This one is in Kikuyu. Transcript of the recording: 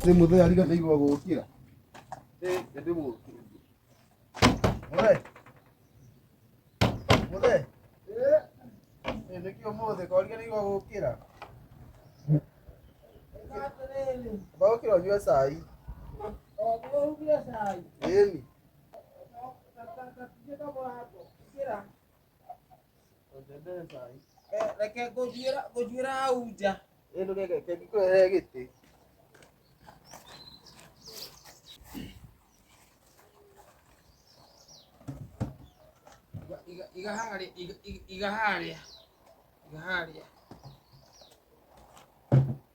Nĩ mũthee ariganĩirwo gũkĩra. Eh, nĩ mũthee. Mũthee. Mũthee. Eh, nĩkĩ ũmũthĩ ko ariganĩirwo gũkĩra? Ũgũkĩra ũnyue cai. Ĩni. reke ngũthiĩra hau nja ĩndũ reke ngĩkũrehere gĩtĩ iga harĩa iga harĩa iga harĩa